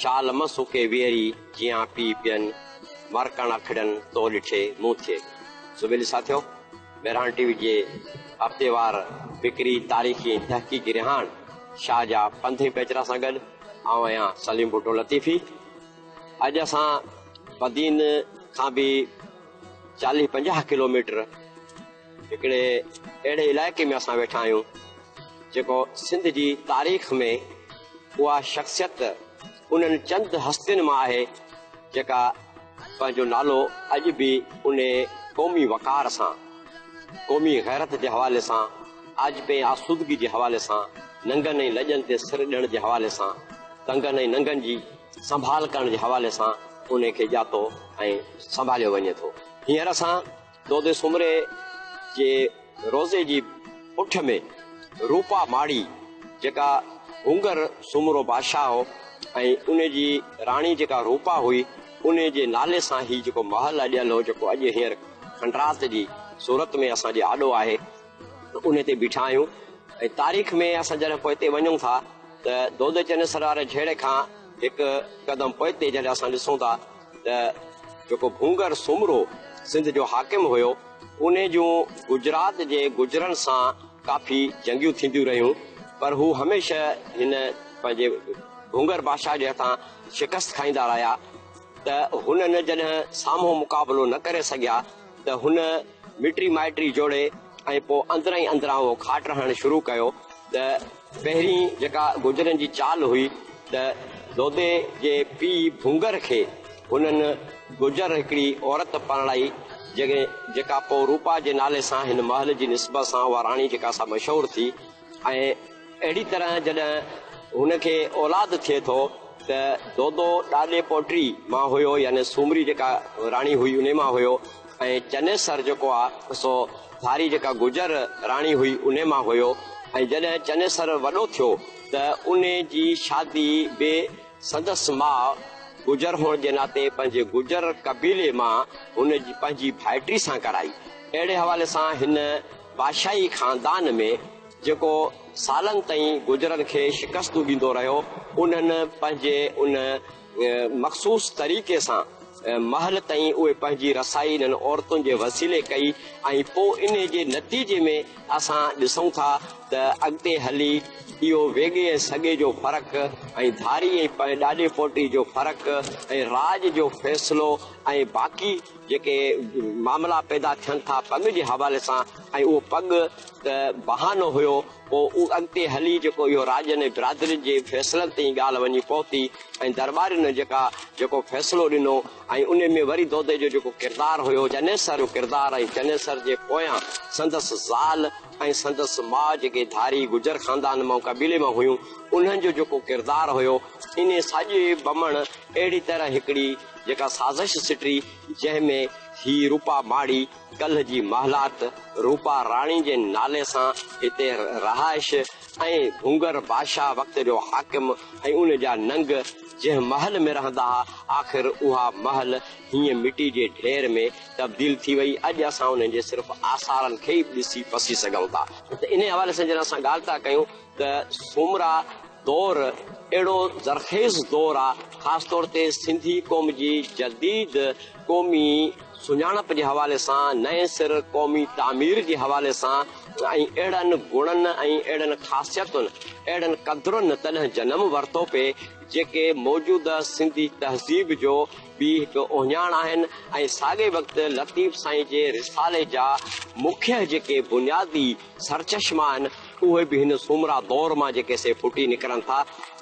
شال م سڪي ويري جيان پي پين مرڪڻ اکڙين تو ڏٺي مون ٿئي سويل ساٿيو مهراڻ ٽي وي جي هفتيوار فڪري تاريخي تحقيقي رهاڻ شاهه جا پنڌي پيچرا سان گڏ آئون آهيان سليم ڀٽو لطيفي اڄ اسان بدين کان به چاليهه پنجاهه ڪلوميٽر هڪڙي اهڙي علائقي ۾ اسان ويٺا آهيون جيڪو سنڌ جي تاريخ ۾ اها شخصيت انهن چند هستين مان آهي جيڪا پنهنجو نالو اڄ به ان قومي وقار سان قومي غيرت جي حوالي سان آجپي ۽ آسودگي جي حوالي سان ننگن ۽ لڄن تي سر ڏيڻ جي حوالي سان تنگن ۽ ننگن جي سنڀال ڪرڻ جي حوالي سان ان کي ڄاتو ۽ سنڀاليو وڃي ٿو هينئر اسان دودي سومري جي روضي جي پٺ ۾ روپا ماڙي جيڪا هونگر سومرو بادشاهه هو ۽ ان جي راڻي جيڪا روپا هئي ان جي نالي سان هي جيڪو محل اڏيل هو جيڪو اڄ هينئر کنڊرات جي صورت ۾ اسان جي آڏو آهي ان تي بيٺا آهيون ۽ تاريخ ۾ اسان جڏهن پوئتي وڃون ٿا ته دودي چنيسر واري جهيڙي کان هڪ قدم پوئتي جڏهن اسان ڏسون ٿا ته جيڪو ڀونگر سومرو سنڌ جو حاڪم هيو، ان جون گجرات جي گجرن سان ڪافي جنگيون ٿينديون رهيون، پر هو هميشه هن پنهنجي ڀونگر بادشاهه جي هٿان شڪست کائيندا رهيا ته هنن جڏهن سامهون مقابلو نه ڪري سگهيا ته هن مٽي مائٽي جوڙي ۽ پوء اندرئين اندران اهو کاٽ رهڻ شروع ڪيو ته پهرين جيڪا گوجرن جي چال هئي ته دودي جي پيء ڀونگر کي هنن گوجر هڪڙي عورت پرڻائي جنهن جيڪا پوء روپا جي نالي سان هن محل جي نسبت سان اها راڻي جيڪا سا مشهور ٿي ۽ اهڙي طرح جڏهن هن کي اولاد ٿئي ٿو ته دودو ڏاڏي پوٽڙي مان هيو يعني سومري جيڪا راڻي هئي انهي مان هيو. ۽ چنيسر جيڪو آ سو ڌاري جيڪا گجر راڻي هئي انهي مان هيو ۽ جڏهن چنيسر وڏو ٿيو ته انهي جي شادي به سندس ماء گجر هئڻ جي ناتي پنهنجي گجر قبيلي مان هن پنهنجي ڀائٽي سان ڪرائي اهڙي حوالي سان هن بادشاهي خاندان ۾ جيڪو سالن تائين گجرن کي شڪستون ڏيندو رهيو انهن پنهنجي ان مخصوص طريقي سان محل تائين اهي پنهنجي رسائي انهن عورتن جي وسيلي ڪئي ۽ پوء انهي جي نتيجي ۾ اسان ڏسون ٿا ته اڳتي هلي اهو ويڳي ۽ سڳي جو فرق ۽ ڌاري ۽ ڏاڏي پوٽي جو فرق ۽ راڄ جو فيصلو ۽ باقي جيڪي معاملا پيدا ٿين ٿا پڳ جي حوالي سان ۽ اهو پڳ ته بهانو هيو پوء اڳتي هلي جيڪو اهو راڄن ۽ برادرين جي فيصلن تي ئي ڳالهه وڃي پهتي ۽ درٻارين جيڪا جيڪو فيصلو ڏنو ۽ ان ۾ وري دودي جو جيڪو ڪردار هيو، چنيسر جو ڪردار ۽ چنيسر جي پويان سندس زال ۽ سندس ماء جيڪي ڌاري گجر خاندان مان قبيلي مان هيون انهن جو جيڪو ڪردار هيو انهي ساڄي بمڻ اهڙي طرح هڪڙي جيڪا سازش سٽري جنهن ۾ هي روپا ماڙي ڪلهه جي محلات روپا راڻي جي نالي سان هتي رهائش ۽ ڀونگر بادشاهه وقت جو حاڪم ۽ ان جا ننگ جنهن محل ۾ رهندا ها آخر اها محل هينئن مٽي جي ڍير ۾ تبديل ٿي وئي اڄ اسان انهن جي صرف آثارن کي ئي ڏسي پسي سگهون ٿا ته انهي حوالي سان جڏهن اسان ڳالهه ٿا ڪيون ته سومرا دور اهڙو زرخيز دور آ خاص طور تي سنڌي قوم جي جديد قومي سڃاڻپ جي حوالي سان نئين سر قومي تعمير جي حوالي سان ۽ اهڙن گڻن ۽ اهڙين خاصيتن اهڙن قدرن تڏهن جنم ورتو پي جيڪي موجوده سنڌي تهذيب جو به هڪ اهڃاڻ آهن ۽ ساڳئي وقت لطيف سائين جي رسالي جا مکيه جيڪي بنيادي سرچشما آهن، اهي به هن سومرا دور مان جيڪي سي ڦٽي نڪرن ٿا.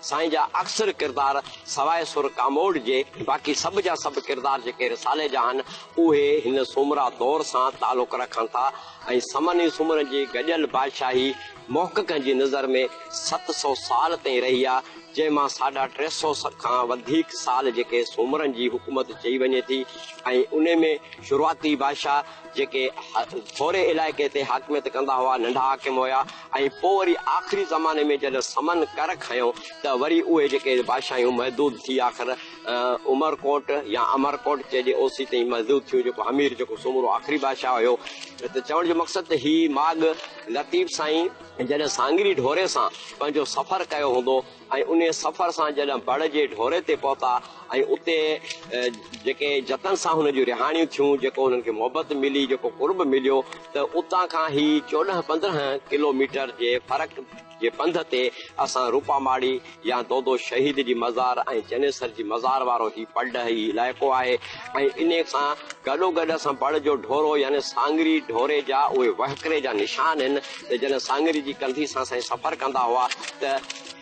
سائين جا اڪثر ڪردار سواء سر ڪاموڏ جي، باقي سڀ جا سڀ ڪردار جيڪي رسالي جا آهن، اهي هن سومرا دور سان تعلق رکن ٿا ۽ سمن ئي سومرن جي گڏيل بادشاهي محققن جي نظر ۾ ست سؤ سال تائين رهي آ، جنهن مان ساڍا ٽي سؤ کان وڌيڪ سال جيڪي سومرن جي حڪومت چئي وڃي ٿي ۽ انهي ۾ شروعاتي بادشاهه. جيڪي ٿوري علائقي تي حاڪميت ڪندا هئا، ننڍا حاڪم هيا ۽ پوء وري آخري زماني ۾ جڏهن سمن ڪر کنيو ته وري اهي جيڪي بادشاهيون محدود ٿي آخر عمرڪوٽ يا امرڪوٽ چئجي اوسي تائين محدود ٿيون جيڪو همير جيڪو سومرو آخري بادشاهه هيو ته چوڻ جو مقصد ته هي ماڳ لطيف سائين جڏهن سانگري ڍوري سان پنهنجو سفر ڪيو هوندو ۽ انهيء سفر سان جڏهن بڙ جي ڍوري تي پهتا ۽ اتي جيڪي جتن سان هن جون رهاڻيون ٿيون، جيڪو هنن کي محبت ملي، جيڪو قرب مليو ته اتان کان هي چوڏهن پندرهن ڪلو ميٽر جي فرق جي پنڌ تي اسان روپا ماڙي يا دودو شهيد جي مزار ۽ چنيسر جي مزار وارو هي پڙ هي علائقو آهي ۽ انهيء سان گڏوگڏ اسان بڙ جو ڍورو يعني سانگري ڍوري جا اهي وهڪري جا نشان هن ته جڏهن ساڱري جي ڪنڌي سان سائين سفر ڪندا هئا ته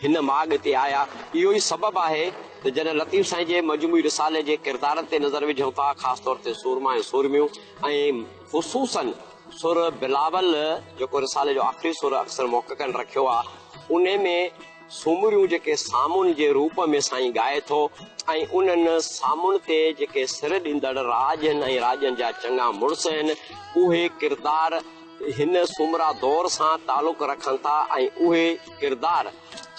هن ماڳ تي آيا. اهو ئي سبب آهي ته جڏهن لطيف سائين جي مجموعي رسالي جي ڪردارن تي نظر وجهون ٿا خاص طور تي سورما ۽ سورميون ۽ خصوصاً سر بلاول جيڪو رسالي جو آخري سر اڪثر محققن رکيو آهي ان ۾ سومريون جيڪي سامون جي روپ ۾ سائين ڳائي ٿو ۽ انهن سامون تي جيڪي سر ڏيندڙ راڄ هن ۽ راڄن جا چڱا مڙس هن اهي ڪردار هن سومرا دور سان تعلق رکن ٿا ۽ اهي ڪردار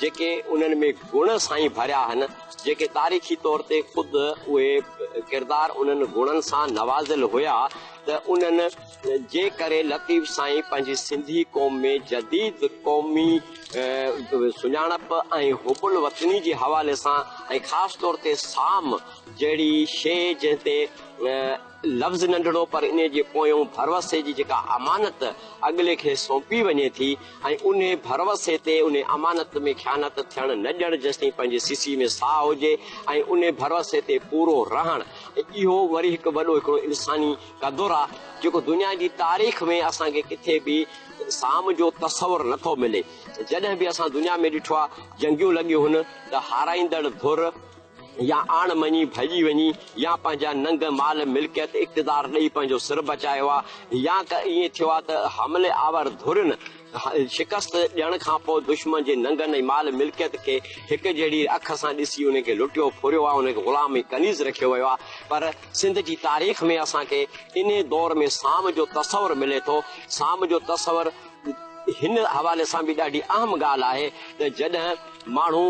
جيڪي انهن ۾ گڻ سائين ڀريا هن جيڪي تاريخي طور تي خود اهي ڪردار انهن گڻن سان نوازيل هيا ته انهن جي ڪري لطيف سائين پنهنجي سنڌي قوم ۾ جديد قومي سڃاڻپ ۽ حب الوطني جي حوالي سان ۽ خاص طور تي سام جهڙي شيء جنهن تي لفظ ننڍڙو پر انهي جي پويون ڀروسي جي جيڪا امانت اڳلي کي سونپي وڃي ٿي ۽ انهي ڀروسي تي انهي امانت ۾ خيانت ٿيڻ نه ڏيڻ جيستائين پنهنجي سيسي ۾ ساهه هجي ۽ انهي ڀروسي تي پورو رهڻ اهو وري هڪ وڏو هڪڙو انساني قدر آ جيڪو دنيا جي تاريخ ۾ اسان کي ڪٿي به سام جو تصور نه ٿو ملي جڏهن به اسان دنيا ۾ ڏٺو آ جنگيون لڳيون هن ته هارائيندڙ ڌر يا آڻ مڃي ڀڄي وڃي يا پنهنجا ننگ مال ملڪيت اقتدار ڏئي پنهنجو سر بچايو آ يا ڪه ائين ٿيو آ ته حملي آور ڌرين شڪست ڏيڻ کان پوء دشمن جي ننگن ۽ مال ملڪيت کي هڪ جهڙي اک سان ڏسي انهن کي لٽيو ڦريو آ انهن کي غلام ۽ ڪنيز رکيو ويو آ پر سنڌ جي تاريخ ۾ اسان کي انهي دور ۾ سام جو تصور ملي ٿو سام جو تصور هن حوالي سان به ڏاڍي اهم ڳالهه آهي ته جڏهن ماڻهو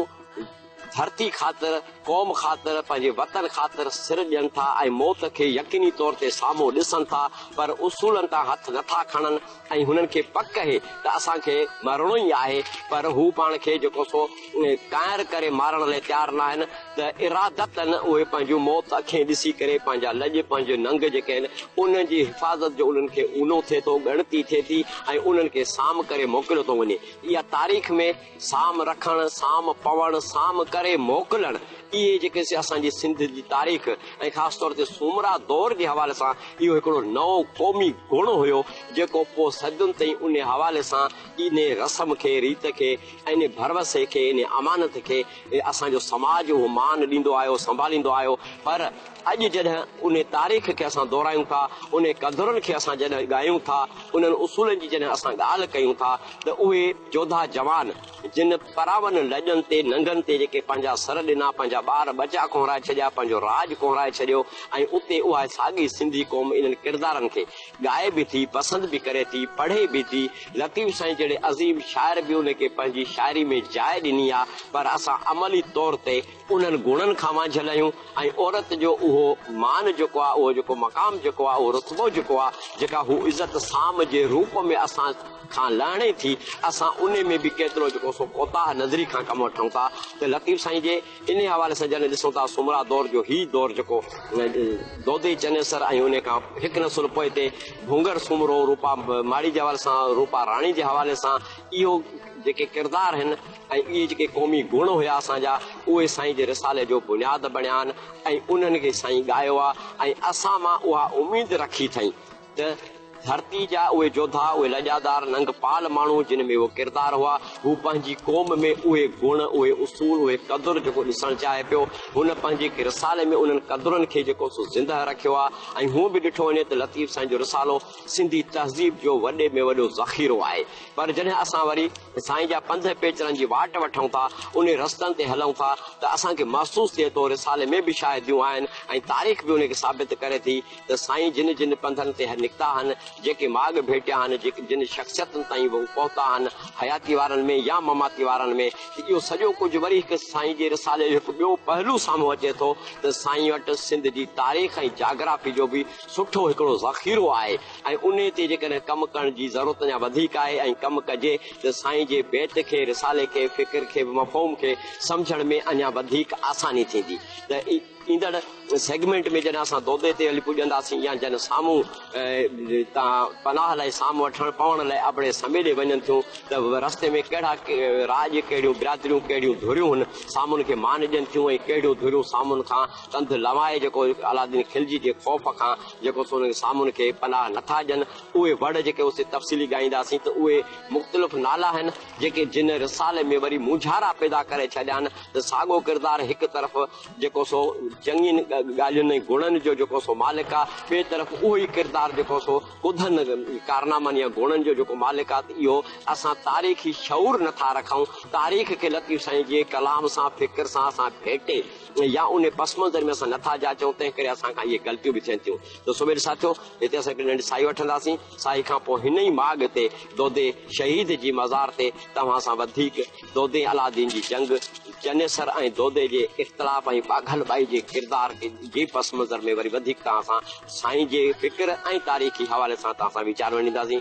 ڌرتي خاطر، قوم خاطر، پنهنجي وطن خاطر سر ڏين ٿا ۽ موت کي يقيني طور تي سامهون ڏسن ٿا پر اصولن تان هٿ نه ٿا کڻن ۽ هنن کي پڪ اهي ته اسان کي مرڻو ئي آهي پر هو پاڻ کي جيڪو سو ڪانئر ڪري مارڻ لاء تيار ناهن ته ارادتن اهي پنهنجون موت اکين ڏسي ڪري پنهنجا لڄ پنهنجي ننگ جيڪي آهن انهن جي حفاظت جو انهن کي اونو ٿئي ٿو ڳڻتي ٿئي ٿي ۽ انهن کي سام ڪري موڪليو ٿو وڃي اها تاريخ ۾ سام رکڻ، سام پوڻ، سام ڪري موڪلڻ، اهي جيڪي اسان جي سنڌ جي تاريخ ۽ خاص طور تي سومرا دور جي حوالي سان اهو هڪڙو نئون قومي گڻ هيو جيڪو پوء صدين تائين انهي حوالي سان انهي رسم کي، ريت کي، انهي ڀروسي کي، انهي امانت کي اسان جو سماج اهو مان ڏيندو آيو، سنڀاليندو آيو پر. اڄ جڏهن انهي تاريخ کي اسان دهرايون ٿا، انهي قدرن کي اسان جڏهن ڳايون ٿا، انهن اصولن جي جڏهن اسان ڳالهه ڪيون ٿا ته اهي جوڌا جوان جن پراون لڄن تي ننگن تي جيڪي پنهنجا سر ڏنا، پنهنجا ٻار ٻچا ڪونهرائي ڇڏيا، پنهنجو راڄ ڪونهرائي ڇڏيو ۽ اتي اها ساڳي سنڌي قوم انهن ڪردارن کي ڳائي به ٿي، پسند به ڪري ٿي، پڙهي به ٿي، لطيف سائين جهڙي عظيم شاعر به انهي کي پنهنجي شاعري ۾ جاء ڏني آ پر اسان عملي طور تي انهن گڻن کان وانجهيل آهيون ۽ عورت جو اهو مان جيڪو آهي، اهو جيڪو مقام جيڪو آهي، اهو رتبو جيڪو آهي، جيڪا هوء عزت سام جي روپ ۾ اسان کان لهڻي ٿي، اسان انهي ۾ به ڪيترو جيڪو سو ڪوتاهه نظري کان ڪم وٺون ٿا ته لطيف سائين جي انهي حوالي سان جڏهن ڏسون ٿا سومرا دور جو هي دور جيڪو دودي چنيسر ۽ انهي کان هڪ نسل پوئتي ڀونگر سومرو روپا ماڙي جي حوالي سان روپا راڻي جي حوالي سان اهو جيڪي ڪردار آهن، ۽ اهي جيڪي قومي گڻ هيا اسان جا اهي سائين جي رسالي جو بنياد بڻيا آهن ۽ انهن کي سائين ڳايو آهي ۽ اسان مان اها اميد رکي ٿئين ته ڌرتي جا اهي جوڌا اهي لڄادار ننگ پال ماڻهو جن ۾ اهو ڪردار هئا هو پنهنجي قوم ۾ اهي گڻ اهي اصول اهي قدر جيڪو ڏسڻ چاهي پيو هن پنهنجي رسالي ۾ انهن قدرن کي جيڪو سو زنده رکيو آهي ۽ هونء به ڏٺو وڃي ته لطيف سائين جو رسالو سنڌي تهذيب جو وڏي ۾ وڏو ذخيرو آهي پر جڏهن اسان وري سائين جا پنڌ پيچرن جي واٽ وٺون ٿا انهي رستن تي هلون ٿا ته اسان کي محسوس ٿئي ٿو رسالي ۾ به شاهديون آهن ۽ تاريخ به انهي کي ثابت ڪري ٿي ته سائين جن جن پنڌن تي نڪتا هن جيڪي ماڳ ڀيٽيا هن جن شخصيتن تائين هو پهتا هن حياتي وارن ۾ يا مماتي وارن ۾ ته اهو سڄو ڪجهه وري هڪ سائين جي رسالي جو هڪ ٻيو پهلو سامهون اچي ٿو ته سائين وٽ سنڌ جي تاريخ ۽ جاگرافي جو به سٺو هڪڙو ذخيرو آهي ۽ انهي تي جيڪڏهن ڪم ڪرڻ جي ضرورت اڃا وڌيڪ آهي ۽ ڪم ڪجي ته سائين جي بيت کي، رسالي کي، فڪر کي به مفهوم کي سمجهڻ ۾ اڃا وڌيڪ آساني ٿيندي ته ايندڙ سيگمينٽ ۾ جڏهن اسان دودي تي هلي پڄنداسين يا جن سامهون تان پناهه لئي سام وٺڻ پوڻ لئي ابڙي سميڏي وڃن ٿيون ته رستي ۾ ڪهڙا راڄ ڪهڙيون برادريون ڪهڙيون ڌريون هن سامهون کي مان ڏين ٿيون ۽ ڪهڙيون ڌريون سامهون کان ڪنڌ لنوائي جيڪو علاؤالدين خلجي جي خوف کان جيڪو سون جي سامون کي پناهه نه ٿا ڏين اهي وڙ جيڪي اسين تفصيلي ڳائينداسين ته اهي مختلف نالا آهن جيڪي جن رسالي ۾ وري مونجهارا پيدا ڪري ڇڏيان ته ساڳو ڪردار هڪ طرف جيڪو سو چڱين ڳالهين ۽ گڻن جو جيڪو سو مالڪ آ ٻي طرف اهو ئي ڪردار جيڪو سو ڪڌن ڪارنامن يا گڻن جو جيڪو مالڪ آ ته اهو اسان تاريخي شعور نه ٿا رکون تاريخ کي لطيف سائين جي ڪلام سان فڪر سان اسان ڀيٽي يا انهي پس منظر ۾ اسان نٿا جاچون، تنهن ڪري اسان کان اهي غلطيون به ٿين ٿيون. ته سويل ساٿيو، هتي اسان هڪڙي ننڍي ساهي وٺنداسين. ساهي کان پوء هن ئي ماڳ تي دودي شهيد جي مزار تي توهان سان وڌيڪ دودي ۽ علاؤالدين جي جنگ، چنيسر ۽ دودي جي اختلاف ۽ ٻاگهل ٻائي جي ڪردار جي پس منظر ۾ وري وڌيڪ توهان سان سائين جي فڪر ۽ تاريخي حوالي سان توهان سان ويچار ونڊينداسين.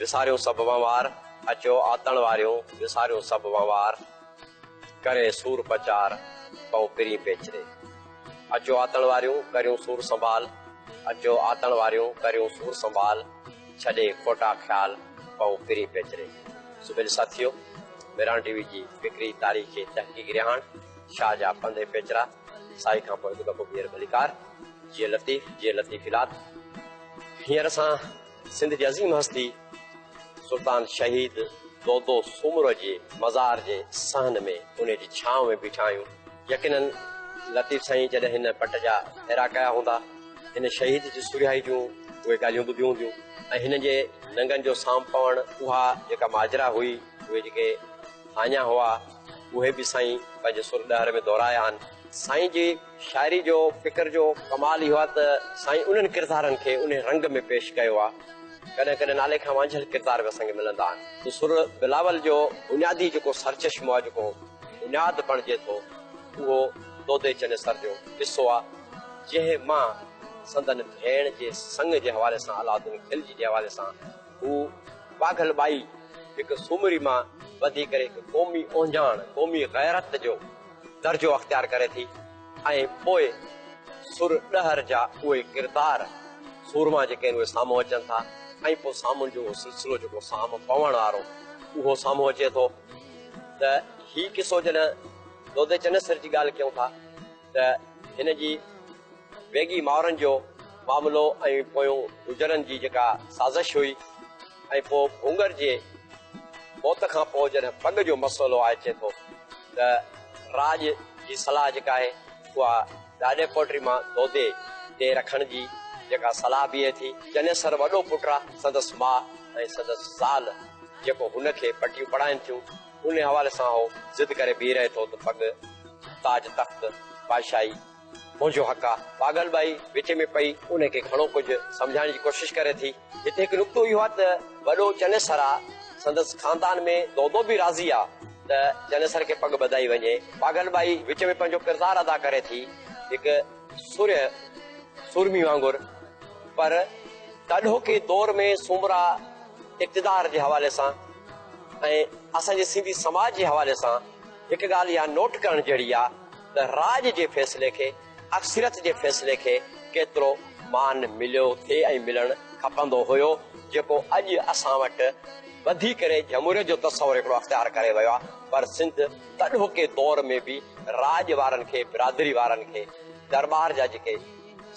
وساريون سڀ وهنوار، اچو آتڻ واريون، وساريون سڀ وهنوار، ڪري سور پچار، پئون پرين پيچري. اچو آتڻ واريون، ڪريون سور سنڀال، اچو آتڻ واريون، ڪريون سور سنڀال، ڇڏي کوٽا خيال، پئون پرين پيچري. سڀيل ساٿيو! ميران ٽي وي جي فڪري تاريخي تحقيقي رهاڻ شاهه جا پنڌ ۽ پيچرا، سائي کان پوء هڪ دفعو ٻيهر ڀليڪار. جيئي لطيف، جيئي لطيف الات. هينئر اسان. سنڌ جي عظيم هستي سلطان شهيد دودو سومرو جي مزار جي صحن ۾ انهي جي ڇانو ۾ بيٺا آهيون. يقينن لطيف سائين جڏهن هن پٽ جا ڦيرا ڪيا هوندا، هن شهيد جي سرهائي جون اهي ڳالهيون ٻڌيون هونديون ۽ هنن جي ننگن جو سام پوڻ اها جيڪا ماجرا هئي، اهي جيڪي هاڃا هئا، اهي به سائين پنهنجي سر ڏهر ۾ دهرايا آهن. سائين جي. شاعري جو فڪر جو ڪمال اهو آهي ته سائين انهن ڪردارن کي انهي رنگ ۾ پيش ڪيو آهي ڪڏهن ڪڏهن نالي کان وانجهيل ڪردار به اسان کي ملندا آهن ته سر بلاول جو بنيادي جيڪو سرچشمو آهي جيڪو بنياد بڻجي ٿو اهو دودي چنيسر جو قصو آهي جنهن مان سندن ڀيڻ جي سڱ جي حوالي سان علاؤالدين خلجي جي حوالي سان هو پاگل ٻائي هڪ سومري مان وڌي ڪري هڪ قومي اونجاڻ قومي غيرت جو درجو اختيار ڪري ٿي ۽ پوء سر ڏهر جا اهي ڪردار سورما جيڪي آهن اهي سامهون اچن ٿا ۽ پوء سامهون جو اهو سلسلو جيڪو سام پوڻ وارو اهو سامهون اچي ٿو ته هي قصو جڏهن دودي چنيسر جي ڳالهه ڪيون ٿا ته هن جي ويڳي مائرن جو معاملو ۽ پويون گجرن جي جيڪا سازش هئي ۽ پوء ڀونگر جي موت کان پوء جڏهن پڳ جو مسئلو آء اچي ٿو ته راڄ جي صلاح جيڪا آهي اها ڏاڏي پوٽري مان دودي تي رکڻ جي جيڪا صلاح بيهي ٿي. چنيسر وڏو پٽ آ، سندس ماء ۽ سندس زال جيڪو هن کي پٽيون پڙهائين ٿيون، انهي حوالي سان هو ضد ڪري بيهي رهي ٿو ته پڳ، تاج تخت، بادشاهي، منهنجو حق آ. پاڳل ٻائي وچ ۾ پئي انهي کي گهڻو ڪجهه سمجهائڻ جي ڪوشش ڪري ٿي. هتي هڪ نقطو اهو آ ته وڏو چنيسر آ، سندس خاندان ۾ دودو به راضي آ ته چنيسر کي پڳ ٻڌائي وڃي. پاڳل ٻائي وچ ۾ پنهنجو ڪردار ادا ڪري ٿي هڪ سرهي سورمي وانگر پر تاڏهوڪي دور ۾ سومرا اقتدار جي حوالي سان ۽ اسان جي سنڌي سماج جي حوالي سان هڪ ڳالهه اها نوٽ ڪرڻ جهڙي آ ته راڄ جي فيصلي کي اڪثريت جي فيصلي کي ڪيترو مان مليو ٿي ۽ ملڻ کپندو هيو جيڪو اڄ اسان وٽ ٻڌي ڪري جمهوريت جو تصور هڪڙو اختيار ڪري ويو آهي پر سنڌ تڏهوڪي دور ۾ به راڄ وارن کي برادري وارن کي درٻار جا جيڪي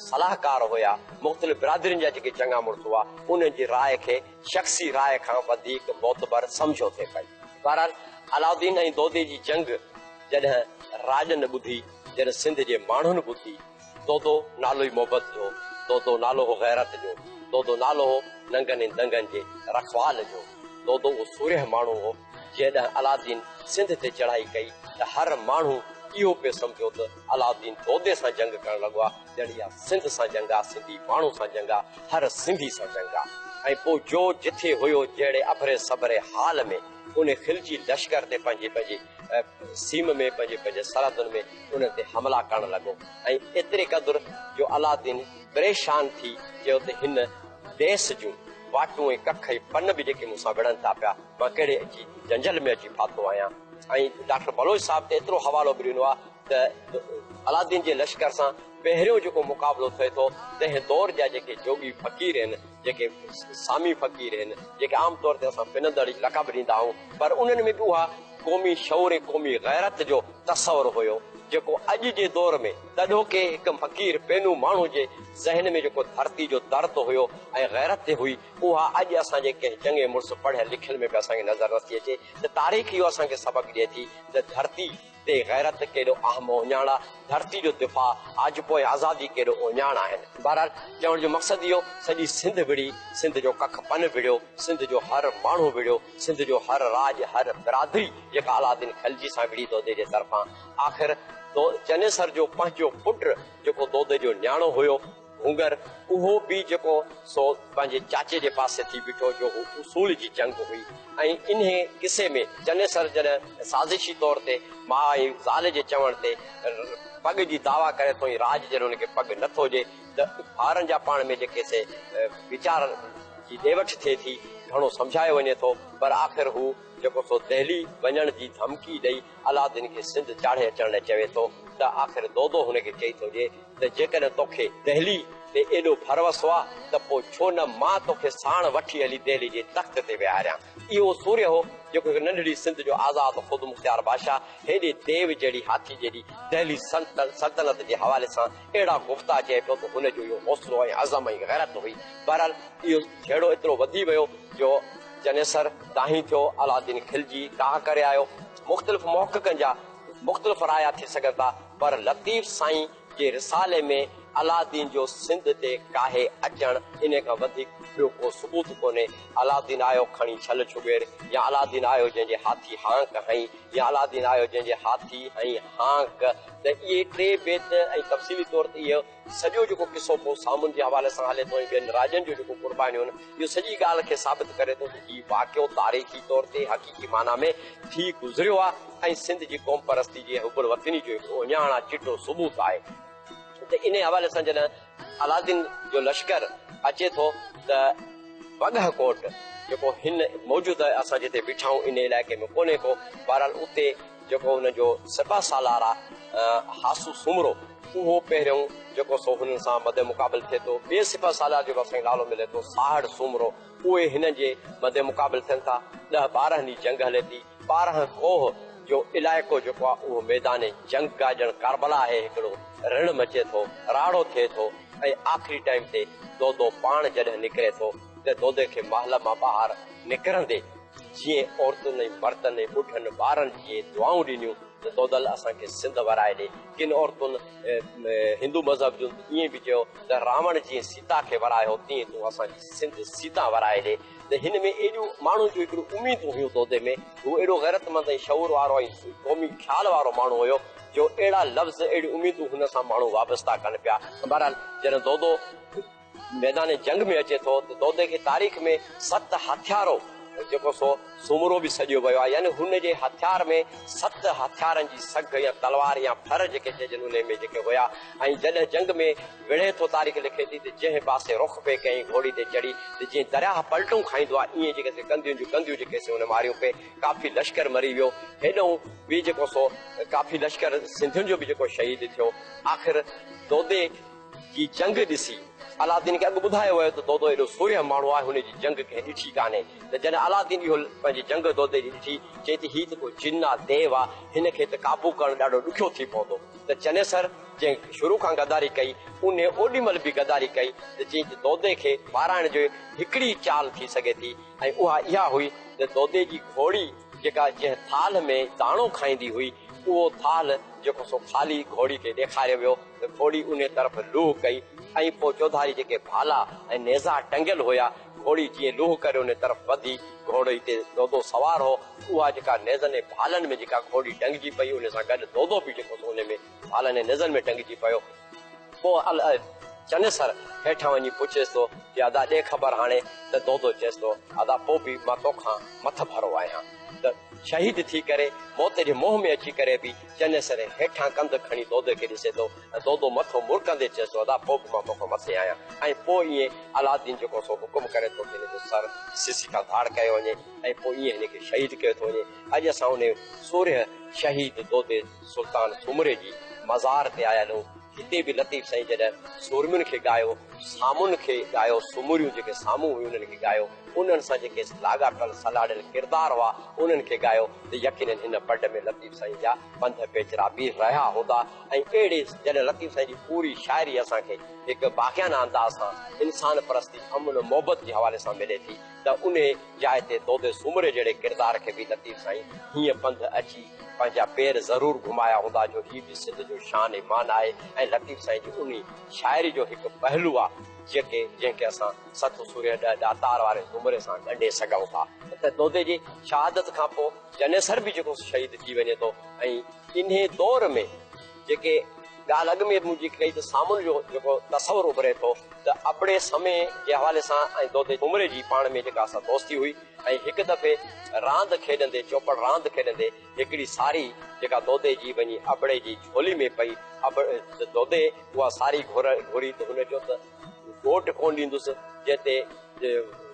صلاحڪار هيا مختلف برادرين جا جيڪي چڱا مڙس هئا انهن جي راء کي شخصي راء کان وڌيڪ معتبر سمجهيو ٿي پئي. بهرحال علاؤالدين ۽ دودي جي جنگ. جڏهن راڄن ٻڌي، جڏهن سنڌ جي ماڻهن ٻڌي، دودو نالو ئي محبت جو، دودو نالو هو غيرت جو، دودو نالو هو ننگن ۽ دنگن جي رکوال جو، دودو اهو سورهيه ماڻهو هو، جيڏهن علادين سنڌ تي چڙهائي ڪئي ته هر ماڻهو اهو پيو سمجهيو ته علادين دودي سان جنگ ڪرڻ لڳو آ، ڄڻ اها سنڌ سان جنگ آ، سنڌي ماڻهو سان جنگ آ، هر سنڌي سان جنگ آ. ۽ پوء جو جٿي هيو جهڙي اڀري سڀري حال ۾ ان خلجي لشڪر تي پنهنجي پنهنجي سيم ۾ پنهنجي پنهنجي سرحدن ۾ انهن تي حملا ڪرڻ لڳو ۽ ايتري قدر جو علادين پريشان ٿي چيو ته هن ديس جون واٽون ۽ ڪک ۽ پن به جيڪي مون سان وڙهن ٿا پيا مان ڪهڙي اچي جنجل ۾ اچي ڦاٿو آهيان ۽ ڊاڪٽر بلوچ صاحب ته ايترو حوالو به ڏنو آهي ته علادين جي لشڪر سان پهريون جيڪو مقابلو ٿئي ٿو تنهن دور جا جيڪي جوڳي فقير آهن جيڪي سامي فقير هن، جيڪي عام طور تي اسان پنندڙ لقب ڏيندا آهيون، پر انهن ۾ به اها قومي شعور ۽ قومي غيرت جو تصور هيو، جيڪو اڄ جي دور ۾ تڏهوڪي هڪ فقير پينو ماڻهو جي ذهن ۾ جيڪو ڌرتي جو درد هيو ۽ غيرت هئي، اها اڄ اسان جي ڪنهن چڱي مڙس پڙهيل لکيل ۾ به اسان کي نظر نٿي اچي ته تاريخ اهو اسان کي سبق ڏئي ٿي ته ڌرتي تي غيرت ڪيڏو اهم اوڃاڻا ڌرتي جو دفاع آج پوء آزادي ڪيڏو اوڃاڻ آهن بهرحال چوڻ جو مقصد اهو سڄي سنڌ وڙهي سنڌ جو ڪک پن وڙهيو سنڌ جو هر ماڻهو وڙهيو سنڌ جو هر راڄ هر برادري جيڪا علاؤالدين خلجي سان وڙهي دودي جي طرفان آخر چنيسر جو پنهنجو پٽ جيڪو دودي جو نياڻو هيو گهونگهر اهو به جيڪو سو پنهنجي چاچي جي پاسي ٿي بيٺو جو هو اصول جي جنگ هئي ۽ انهي قصي ۾ چنيسر جڏهن سازشي طور تي ماء ۽ زال جي چوڻ تي پڳ جي دعويٰ ڪري ٿو ۽ راڄ جڏهن ان کي پڳ نه ٿو ڏي ته ٻارن جا پاڻ ۾ جيڪي سي ويچار جي ڏي وٺ ٿئي ٿي گهڻو سمجهايو وڃي ٿو پر آخر هو جيڪو سو دهلي وڃڻ جي ڌمڪي ڏئي علادين کي سنڌ چاڙهي اچڻ لاء چوي ٿو ته آخر دودو هن کي چئي ٿو ڏي ته جيڪڏهن توکي دهلي تي ايڏو ڀروسو آ ته پوء ڇو نه مان توکي ساڻ وٺي هلي دهلي جي تخت تي ويهاريان. اهو سوريه هو جيڪو هڪ ننڍڙي سنڌ جو آزاد خودمختيار بادشاهه هيڏي ديو جهڙي هاٿي جيڏي دهلي سلطنت جي حوالي سان اهڙا گفتا چئي پيو ته هن جو اهو حوصلو ۽ عزم ۽ غيرت هئي. بهرحال اهو جهيڙو ايترو وڌي ويو جو چنيسر دانهين ٿيو، علاؤالدين کلجي ڪاهه ڪري آيو. مختلف محققن جا مختلف رايا ٿي سگهن ٿا پر لطيف سائين جي رسالي ۾ علاؤالدين جو سنڌ تي ڪاهي اچڻ انهي کان وڌيڪ ٻيو ڪو ثبوت ڪونهي. علاؤالدين آيو کڻي ڇل ڇڳير يا علاؤالدين آيو جنهن جي هاٿي هانڪ هنئي يا علاؤالدين آيو جنهن جي هاٿي هنئي هانڪ. ته اهي ٽي بيت ۽ تفصيلي طور تي اهو سڄو جيڪو قصو پوء سامون جي حوالي سان هلي ٿو ۽ ٻين راڄن جون جيڪو قربانيون آهن، اهو سڄي ڳالهه کي ثابت ڪري ٿو ته هي واقعو تاريخي طور تي حقيقي معنيٰ ۾ ٿي گذريو آهي ۽ سنڌ جي قومپرستي جي ۽ حب الوطني جو هڪ اهڃاڻا چٽو ثبوت آهي ته انهيء حوالي سان جڏهن علادين جو لشڪر اچي ٿو ته وڳهه ڪوٽ جيڪو هن موجود اسان جتي بيٺا آهيون ان علائقي ۾ ڪونهي ڪو بهرحال اتي جيڪو ان جو سپهه سالار آهي هاسو سومرو اهو پهريون جيڪو سو هن سان مد مقابل ٿئي ٿو ٻئي سپهه سالار جو به اسان کي نالو ملي ٿو ساهڙ سومرو اهي هنن جي مد مقابل ٿين ٿا. ڏهه ٻارهن ڏينهن جنگ هلي ٿي. ٻارهن ڪوهه جو علائقو جيڪو آهي اهو ميدان جنگ آهي ڄڻ ڪاربلا آهي هڪڙو رڻ مچي ٿو راڙو ٿئي ٿو ۽ آخري ٽائيم تي دودو پاڻ جڏهن نڪري ٿو ته دودي کي محل مان ٻاهر نڪرندي جيئن عورتن ۽ مردن ۽ ٻڍن ٻارن جيئن دعائون ڏنيون ته دودل اسان کي سنڌ ورائي ڏي ڪن عورتن هندو مذهب جون ته ائين به چيو ته راوڻ جيئن سيتا کي ورايو تيئن تون اسان جي سنڌ سيتان ورائي ڏي ته هن ۾ ايڏيون ماڻهن جون هڪڙيون اميدون هيون دودي ۾ هو اهڙو غيرتمند ۽ شعور وارو ۽ قومي خيال وارو ماڻهو هيو جو اهڙا لفظ اهڙيون اميدون هن سان ماڻهو وابسته ڪن پيا بهرحال جڏهن دودو ميدان جنگ ۾ اچي ٿو ته دودي کي تاريخ ۾ ست هٿيارو جيڪو سو سومرو به سڏيو ويو آهي يعني هن جي هٿيار ۾ ست هٿيارن جي سگهه يا تلوار يا ڦر جيڪي چئجن انهي ۾ جيڪي هيا ۽ جڏهن جنگ ۾ وڙهي ٿو تاريخ لکي ٿي ته جنهن پاسي رخ پئي ڪيائين گهوڙي تي چڙهي ته جيئن درياهه پلٽون کائيندو آهي ايئن جيڪي سي ڪنڌيون جون ڪنڌيون جيڪي سي هن ماريون پئي ڪافي لشڪر مري ويو هيڏنهون به جيڪو سو ڪافي لشڪر سنڌين جو به جيڪو شهيد ٿيو آخر دودي جي جنگ ڏسي علاؤالدين کي اڳ ٻڌايو ويو ته دودو ايڏو سورهيه ماڻهو آهي هن جي جنگ ڪنهن ڏٺي ڪانهي ته جڏهن علاؤالدين اهو پنهنجي جنگ دودي جي ڏٺي چئي ته هي ته ڪو جن آهي ديو آهي هن کي ته قابو ڪرڻ ڏاڍو ڏکيو ٿي پوندو ته چنيسر جنهن شروع کان غداري ڪئي، انهي اوڏي مهل به غداري ڪئي ته جيئن ته دودي کي ٻارائڻ جي هڪڙي ئي چال ٿي سگهي ٿي ۽ اها اها هئي ته دودي جي گهوڙي جيڪا جنهن ٿالهه ۾ داڻو کائيندي هئي، اهو ٿالهه جيڪو سو خالي گهوڙي کي ڏيکاريو ويو ته گهوڙي انهي طرف لوهه ڪئي ۽ پوء چوڌاري جيڪي ڀالا ۽ نيزا ٽنگيل هيا، گهوڙي جيئن لوهه ڪري انهي طرف وڌي، گهوڙي تي دودو سوار هو، اها جيڪا نيزن ۽ ڀالن ۾ جيڪا گهوڙي ٽنگجي پئي، انهي سان گڏ دودو به جيڪو سو انهي ۾. ڀالني نزن ۾ ٽنگجي پيو. پوء الائي چنيسر هيٺان وڃي پڇيس ٿو ته ادا ڏي خبر هاڻي ته دودو چيس ٿو ادا پوء به مان توکان مٿ ڀرو آهيان ته شهيد ٿي ڪري موت جي منهن ۾ اچي ڪري به چنيسر هيٺان ڪنڌ کڻي دودي کي ڏسي ٿو ۽ دودو مٿو مرڪندي چيس ٿو ادا پوء به مان توکان مٿي آهيان ۽ پوء ائين الادين جيڪو سو حڪم ڪري ٿو ته هن جو سر سسي کان ڌاڙ ڪيو وڃي ۽ پوء ائين هن کي شهيد ڪيو ٿو وڃي اڄ اسان انهي سورهيه شهيد دودي سلطان سومري جي مزار تي آيل هو. هتي به لطيف سائين جڏهن سورمين کي ڳايو، سامون کي ڳايو، سومريون جيڪي سامون هيون انهن کي ڳايو، انهن سان جيڪي لاڳاپيل سلهاڙيل ڪردار هئا انهن کي ڳايو ته يقينن هن بڊ ۾ لطيف سائين جا پنڌ پيچرا بيهه رهيا هوندا ۽ اهڙي جڏهن لطيف سائين جي پوري شاعري اسان کي هڪ باغيانه انداز سان انسان پرستي، امن و محبت جي حوالي سان ملي ٿي. ته انهي جاء تي دودي سومري جهڙي ڪردار کي به لطيف سائين هيئن پنڌ اچي پنهنجا پير ضرور گهمايا هوندا جو هي به سنڌ جو شان ۽ مان آهي ۽ لطيف سائين جي انهي شاعري جو هڪ پهلو آ جيڪي جنهن کي اسان ست سورهيه ڏهه ڏاتار واري زمري سان ڳنڍي سگهون ٿا ته دودي جي شهادت کان پوء جنيسر به جيڪو شهيد ٿي وڃي ٿو ۽ انهي دور ۾ جيڪي ڳالهه اڳ ۾ به منهنجي ڪئي ته سامون جو جيڪو تصور اڀري ٿو ته ابڙي سمي جي حوالي سان ۽ دودي ڇومري جي پاڻ ۾ جيڪا اسان دوستي هئي ۽ هڪ دفعي راند کيڏندي چوپڙ راند کيڏندي هڪڙي ساري جيڪا دودي جي وڃي ابڙي جي جهولي ۾ پئي ابڙ دودي اها ساري گهري ته هن چيو ته ووٽ ڪونه ڏيندس جنهن تي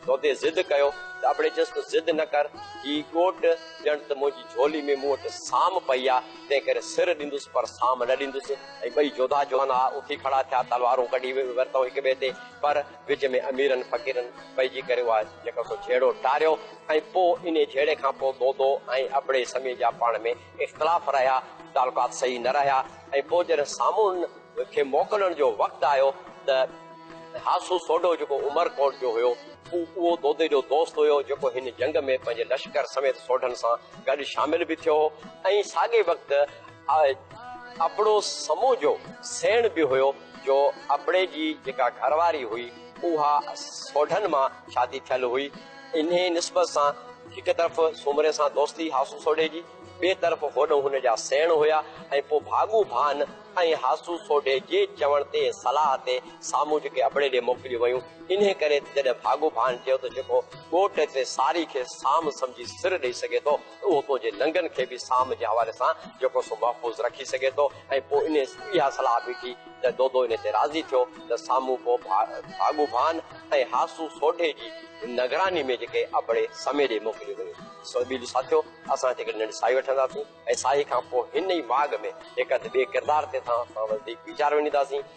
دودي ضد ڪيو ته ابڙي چيس ته ضد نه ڪر هي ڳوٺ ڄڻ ته منهنجي جهولي ۾ مون وٽ سام پئي آ تنهن ڪري سر ڏيندس پر سام نه ڏيندس ۽ ٻئي جوڌا جوان هئا اٿي کڙا ٿيا تلوارون ڪڍي ورتائون هڪ ٻئي تي پر وچ ۾ اميرن فقيرن پئجي ڪري اها جيڪو سو جهيڙو ٽاريو ۽ پوء انهي جهيڙي کان پوء دودو ۽ ابڙي سمي جا پاڻ ۾ اختلاف رهيا، تعلقات صحيح نه رهيا ۽ پوء جڏهن سامون کي موڪلڻ جو وقت آيو ته هاسو سوڍو جيڪو عمر ڪوٽ جو هيو، هو اهو دودي جو دوست هيو جيڪو هن جنگ ۾ پنهنجي لشڪر سميت سوڍن سان گڏ شامل به ٿيو هو ۽ ساڳئي وقت ابڙو سمون جو سيڻ به هيو جو ابڙي جي جيڪا گهر واري هئي اها سوڍن مان شادي ٿيل هئي. انهيء نسبت سان هڪ طرف سومري سان دوستي هاسو سوڍي جي، ٻئي طرف هوڏنهن هن جا سيڻ هيا ۽ پوء ڀاڳو ڀان ۽ هاسو سوڍي جي چوڻ تي صلاح تي سامهون جيڪي ابڙي ڏي موڪليون ويون، انهيء ڪري ته جڏهن ڀاڳو ڀان چيو ته جيڪو ڳوٺ تي ساري کي سام سمجهي سر ڏئي سگهي ٿو، اهو تنهنجي لنگن کي به سام جي حوالي سان جيڪو سو محفوظ رکي سگهي ٿو ۽ پوء انهيء اها صلاح به ٿي ته دودو انهيء تي راضي ٿيو ته سامون پوء ڀاڳو ڀان ۽ هاسو سوڍي جي نگراني ۾ جيڪي ابڙي سمي ڏي موڪليون ويون سو ٻيلي ساٿيو اسان هتي هڪڙي ننڍي ساهي وٺنداسين ۽ ساهي کان پوء هن ئي ماڳ ۾ هڪ هنڌ ٻئي ڪردار تي توهان سان وڌيڪ ويچار وڃينداسين.